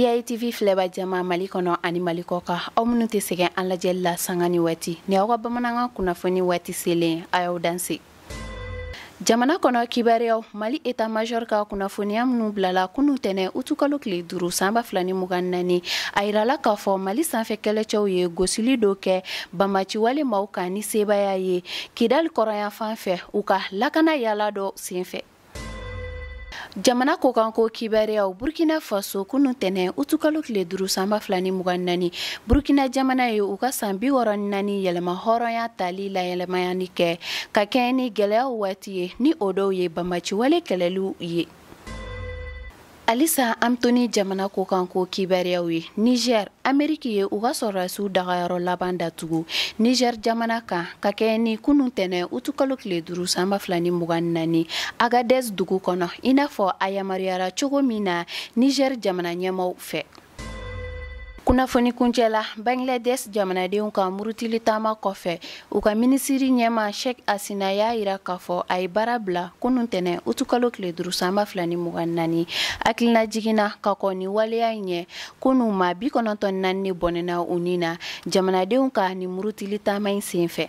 EITV filɛba jama Mali kɔnɔ ani Mali kɔkan aw minnu tɛ sɛgɛn an lajɛli la sanga ni waati ni aw ka bamanankan kunnafoni waati selen a y'aw dansɛ jamana kɔnɔ kibaruyaw mali eta majɔr ka kunnafoniya minnu bilala kunu tɛnɛ utukalo tile duuru san ba fila ni mugan naani a yirala k'a fɔ mali sanfɛ kɛlɛcɛw ye gosili dɔ kɛ banbaciwale maaw kan ni sebaaya ye kidali kɔrɔnyanfan fɛ u ka lakana yaala dɔ senfɛ jamana kɔkanko kibaruyaw burkina faso kunu tɛnɛ utukalo tile duuru san ba fila ni mugan ni naani burkina jamana ye u ka san bi wɔɔrɔ ni naani yɛrɛmahɔrɔnya tali laɲɛnamayali kɛ ka kɛɲɛ ni gwɛlɛyaw waati ye ni o dɔw ye banbaciwale kɛlɛliw ye Halisa an bɛ to ni jamana kɔkanko kibaruyaw ye nizɛri ameriki ye u ka sɔrɔrasiw dagayɔrɔ laban datugu nizɛri jamana kan ka kɛɲɛ ni kunun tɛnɛn utukalo tile duuru san ba fila ni mugan ni naani agadɛzi dugu kɔnɔ i n'a fɔ a yamaruyara cogo min na nizɛri jamana ɲɛmaaw fɛ kunnafoni kuncɛ la bangladesh jamanadenw ka murutili taama kɔfɛ u ka minisiri ɲɛmaa sheikh hasina y'a yira k'a fɔ a ye baara bila kunu tɛnɛ utukalo tile duuru san ba fila ni mugan naani hakilinajigin na ka kɔn ni waleya in ɲɛ kunu maa bi kɔnɔntɔn naani ne bɔnɛna u ni na jamanadenw ka ni murutili taama in sen fɛ